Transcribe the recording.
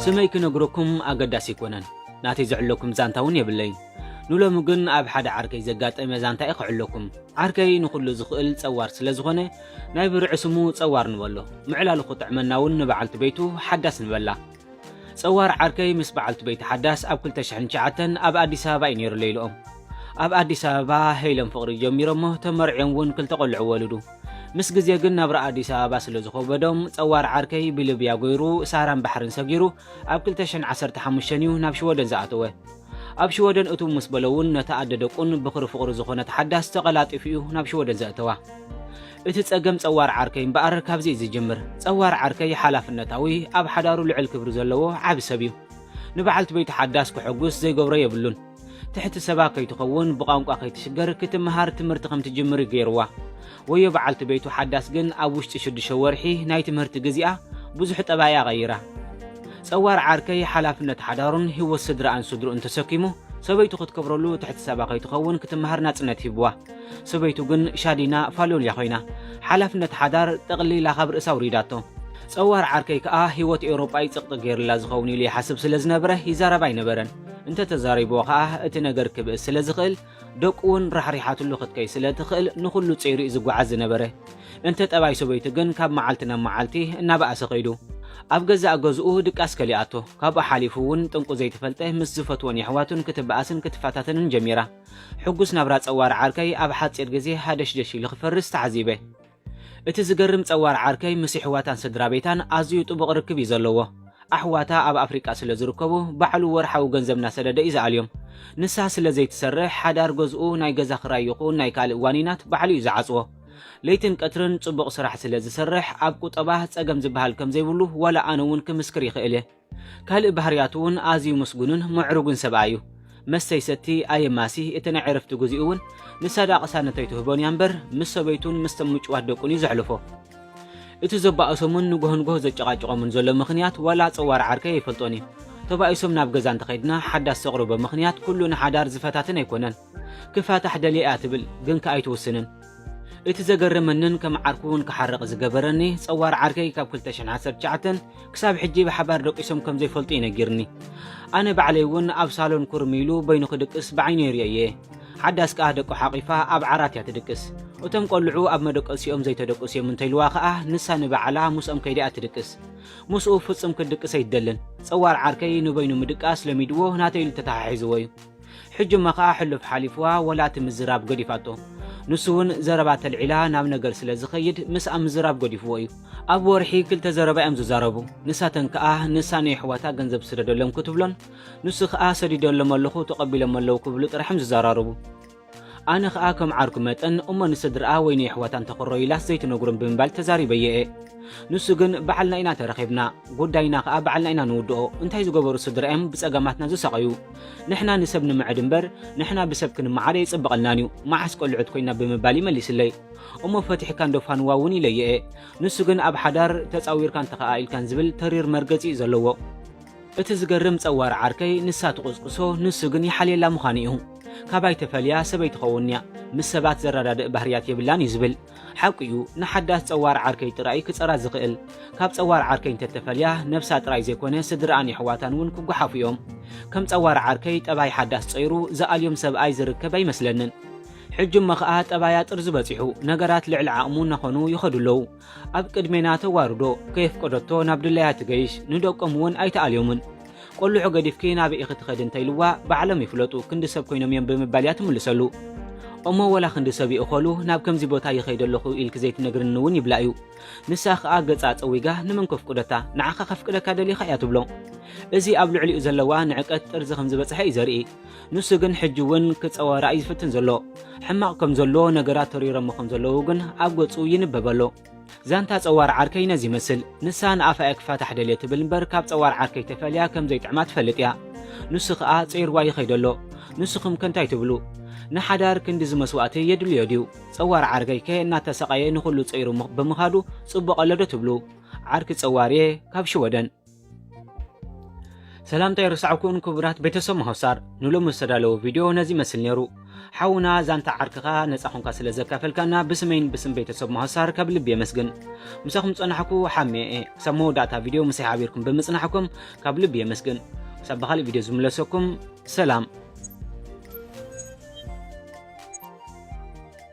ስመይ ክነግረኩም ኣገዳሲ ኣይኮነን፣ ናተይ ዝዕለኩም ዛንታ እውን የብለይን። ንሎሚ ግን ኣብ ሓደ ዓርከይ ዘጋጠመ ዛንታ እየ ክዕለኩም። ዓርከይ ንኹሉ ዝኽእል ጸዋር ስለ ዝኾነ ናይ ብርዒ ስሙ ጸዋር ንበሎ። ምዕላሉ ክጥዕመና እውን ንበዓልቲ ቤቱ ሓዳስ ንበላ። ጸዋር ዓርከይ ምስ በዓልቲ ቤታ ሓዳስ ኣብ ክልተ ሽሕን ትሽዓተን ኣብ ኣዲስ ኣበባ እዩ ነይሩ ለይልኦም። ኣብ ኣዲስ ኣበባ ሄይሎም ፍቕሪ ጀሚሮሞ ተመርዕዮም እውን ክልተ ቆልዑ ወልዱ። ምስ ግዜ ግን ናብራ ኣዲስ ኣበባ ስለ ዝኸበዶም ጸዋር ዓርከይ ብልብያ ጎይሩ ሳራን ባሕርን ሰጊሩ ኣብ ክልተ ሽሕን ዓሰርተ ሓሙሽተን እዩ ናብ ሽወደን ዝኣተወ። ኣብ ሽወደን እትው ምስ በሎ እውን ነታ ኣደ ደቁን ብዅሪ ፍቕሩ ዝዀነት ሓዳስ ተቐላጢፉ እዩ ናብ ሽወደን ዘእተዋ። እቲ ጸገም ጸዋር ዓርከይ እምበኣር ካብዚ እዩ ዝጅምር። ጸዋር ዓርከይ ሓላፍነታዊ፣ ኣብ ሓዳሩ ልዑል ክብሪ ዘለዎ ዓቢ ሰብ እዩ። ንበዓልቲ ቤቱ ሓዳስ ከሐጕስ ዘይገብሮ የብሉን። ትሕቲ ሰባ ከይትኸውን፣ ብቋንቋ ከይትሽገር፣ ክትመሃር ትምህርቲ ከም ትጅምር እዩ ገይርዋ። ወዮ በዓልቲ ቤቱ ሓዳስ ግን ኣብ ውሽጢ ሽዱሽተ ወርሒ ናይ ትምህርቲ ግዚኣ ብዙሕ ጠባይኣ ቀይራ። ጸዋር ዓርከይ ሓላፍነት ሓዳሩን ህይወት ስድራኣን ስድርኡን ተሰኪሙ ሰበይቱ ክትከብረሉ ትሕቲ ሰባ ከይትኸውን ክትመሃር ናጽነት ሂብዋ። ሰበይቱ ግን ሻዲና ፋልዮልያ ኮይና። ሓላፍነት ሓዳር ጠቕሊላ ካብ ርእሳ ኣውሪዳቶ። ጸዋር ዓርከይ ከኣ ህይወት ኤውሮጳ እዩ ጽቕጢ ገይርላ ዝኸውን ኢሉ ይሓስብ ስለ ዝነበረ ይዛረብ ኣይነበረን። እንተ ተዛሪብዎ ከኣ እቲ ነገር ክብእስ ስለ ዝኽእል ደቁ'ውን ራሕሪሓትሉ ክትከይድ ስለ እትኽእል ንኹሉ ጸይሩ'ዩ ዝጓዓዝ ዝነበረ። እንተ ጠባይ ሰበይቱ ግን ካብ መዓልቲ ናብ መዓልቲ እናበኣሰ ከይዱ። ኣብ ገዛእ ገዝኡ ድቃስ ከሊኣቶ። ካብኡ ሓሊፉ'ውን ጥንቁ ዘይተፈልጠ ምስ ዝፈትዎን የሕዋቱን ክትበኣስን ክትፈታተንን ጀሚራ። ሕጉስ ናብራ ጸዋር ዓርከይ ኣብ ሓጺር ግዜ ሃደሽደሽ ኢሉ ክፈርስ ተዓዚበ። እቲ ዝገርም ጸዋር ዓርከይ ምስ ይሕዋታን ስድራቤታን ኣዝዩ ጥቡቕ ርክብ እዩ ዘለዎ። ኣሕዋታ ኣብ ኣፍሪቃ ስለ ዝርከቡ ባዕሉ ወርሓዊ ገንዘብ እናሰደደ እዩ ዝኣልዮም። ንሳ ስለ ዘይትሰርሕ ሓዳር ገዝኡ ናይ ገዛ ክራይ ይኹን ናይ ካልእ ዋኒናት ባዕሉ እዩ ዝዓጽዎ። ለይትን ቀትርን ጽቡቕ ስራሕ ስለ ዝሰርሕ ኣብ ቁጠባ ጸገም ዝበሃል ከም ዘይብሉ ዋላ ኣነ እውን ክምስክር ይኽእል እየ። ካልእ ባህርያቱ'ውን ኣዝዩ ምስጉንን ምዕሩግን ሰብኣይ እዩ። መስተ ይሰቲ፣ ኣየማሲ፣ እቲ ናይ ዕረፍቲ ግዜኡ'ውን ንሳዳ ቅሳነት ኣይትህቦን እያ እምበር ምስ ሰበይቱን ምስቶም ምጭዋት ደቁን እዩ ዘሕልፎ። እቲ ዘባእሶምን ንጎሆ ንጎሆ ዘጨቓጭቖምን ዘሎ ምኽንያት ዋላ ጸዋር ዓርከይ ኣይፈልጦን እዩ። ተባኢሶም ናብ ገዛ እንተኸድና ሓዳስ ዘቕርቦ ምኽንያት ኩሉ ንሓዳር ዝፈታትን ኣይኮነን። ክፋታሕ ደልየ እያ ትብል ግን ከኣ ኣይትውስንን እቲ ዘገረመንን ከም ዓርኩ ውን ክሓርቅ ዝገበረኒ ጸዋር ዓርከይ ካብ ክልተ ሽሕን ዓሰርተ ትሽዓተን ክሳብ ሕጂ ብሓባር ደቂሶም ከም ዘይፈልጡ እዩ ነጊርኒ ኣነ ባዕለይ ውን ኣብ ሳሎን ኩርም ኢሉ በይኑ ክድቅስ ብዓይነይ ሪኦ እየ ሓዳስ ከኣ ደቁ ሓቂፋ ኣብ ዓራት እያ ትድቅስ እቶም ቆልዑ ኣብ መደቀሲኦም ዘይተደቅሱ እዮም እንተኢልዋ ከኣ ንሳ ንባዕላ ምስኦም ከይዳ እያ ትድቅስ ምስኡ ፍጹም ክትድቅስ ኣይትደልን ጸዋር ዓርከይ ንበይኑ ምድቃስ ለሚድዎ ናተይ ኢሉ ተተሓሒዝዎ እዩ ሕጂ'ማ ከኣ ሕሉፍ ሓሊፍዋ ወላ እቲ ምዝራብ ገዲፋቶ። ንሱ ውን ዘረባ ተልዒላ ናብ ነገር ስለ ዝኸይድ ምስኣ ምዝራብ ገዲፍዎ እዩ። ኣብ ወርሒ ክልተ ዘረባ እዮም ዝዛረቡ። ንሳተን ከኣ ንሳ ንየሕዋታ ገንዘብ ስደደሎም ክትብሎን ንሱ ከኣ ሰዲደሎም ኣለኹ ተቐቢሎም ኣለዉ ክብሉ ጥራሕ እዮም ዝዘራረቡ። ኣነ ከኣ ከም ዓርኩ መጠን እሞ ንስድርኣ ወይ ንየሕዋታ እንተኽረዩ ኢላስ ዘይትነግሮም ብምባል ተዛሪበዮ እየ። ንሱ ግን በዓልና ኢና ተረኺብና ጉዳይና ከኣ በዓልና ኢና ንውድኦ እንታይ ዝገበሩ ስድራ እዮም ብጸገማትና ዝሳቐዩ። ንሕና ንሰብ ንምዐድ እምበር ንሕና ብሰብ ክንመዓድ ኣይጽበቐልናን እዩ፣ መዓስ ቆልዑት ኮይና ብምባል እዩ መሊስለይ። እሞ ፈቲሕካ እንዶ ፋንዋ እውን ኢለዮ እየ። ንሱ ግን ኣብ ሓዳር ተጻዊርካን ተኸኣኢልካን ዝብል ተሪር መርገጺ እዩ ዘለዎ። እቲ ዝገርም ጸዋር ዓርከይ ንሳ ትቑስቁሶ ንሱ ግን ይሓልየላ ምዃኑ እዩ። ካባይ ተፈልያ ሰበይቲ ኸውንያ ምስ ሰባት ዘረዳድእ ባህርያት የብላን እዩ ዝብል። ሓቁ'ዩ ንሓዳስ ጸዋር ዓርከይ ጥራይ'ዩ ክጸራ ዝኽእል። ካብ ጸዋር ዓርከይ እንተተፈልያ ነብሳ ጥራይ ዘይኮነ ስድርኣን የሕዋታን ውን ክጓሓፉ'ዮም። ከም ጸዋር ዓርከይ ጠባይ ሓዳስ ጸይሩ ዝኣልዮም ሰብኣይ ዝርከብ ኣይመስለንን። ሕጂ'ሞ ከኣ ጠባያ ጥርዙ በጺሑ ነገራት ልዕሊ ዓቕሙ እናኾኑ ይኸዱ ኣለዉ። ኣብ ቅድሜና ተዋርዶ፣ ከየፍቀደቶ ናብ ድላያ ትገይሽ፣ ንደቆም ውን ኣይትኣልዮምን። ቆልዑ ገዲፍኪ ናበይ ኢኺ ትኸዲ እንተኢልዋ ባዕሎም ይፍለጡ ክንዲ ሰብ ኮይኖም እዮም ብምባል እያ ትምልሰሉ። እሞ ወላ ክንዲ ሰብ ይእኸሉ ናብ ከምዚ ቦታ ይኸይድ ኣለኹ ኢልኪ ዘይትነግርኒ እውን ይብላ እዩ። ንሳ ከኣ ገጻ ጸዊጋ ንመን ከፍቅደካ ንዓኻ ከፍቅደካ ደሊኻ እያ ትብሎ። እዚ ኣብ ልዕሊኡ ዘለዋ ንዕቀት ጥርዚ ከም ዝበጽሐ እዩ ዘርኢ። ንሱ ግን ሕጂ እውን ክጸወራ እዩ ዝፍትን ዘሎ። ሕማቕ ከም ዘሎ ነገራት ተሪሮሞ ከም ዘለዉ ግን ኣብ ገጹ ይንበብ ኣሎ። ዛንታ ጸዋር ዓርከይ ነዚ ይመስል። ንሳ ንኣፋ'ያ ክፋታሕ ደልየ ትብል እምበር ካብ ጸዋር ዓርከይ ተፈልያ ከም ዘይጥዕማ ትፈልጥ'ያ። ንሱ ከኣ ጸይርዋ ይኸይድ ኣሎ። ንስኹምከ እንታይ ትብሉ? ንሓዳር ክንድዚ መስዋእቲ የድልዮ ድዩ? ጸዋር ዓርከይከ እናተሳቐየ ንኹሉ ጸይሩ ብምኻዱ ጽቡቕ ኣሎዶ ትብሉ? ዓርኪ ጸዋር'የ ካብ ሽወደን። ሰላምታ ይርሳዕኩን ክቡራት ቤተሰብ መሆሳር ንሎሚ ዝተዳለወ ቪድዮ ነዚ ይመስል ነይሩ ሓውና ዛንታ ዓርክኻ ነፃ ኹንካ ስለ ዘካፈልካና ብስመይን ብስም ቤተሰብ መሆሳር ካብ ልቢ የመስግን ምሳኹም ፀናሕኩ ሓሜ እየ ክሳብ መወዳእታ ቪድዮ ምሳይ ሓቢርኩም ብምፅናሕኩም ካብ ልቢ የመስግን ክሳብ ብካሊእ ቪድዮ ዝምለሰኩም ሰላም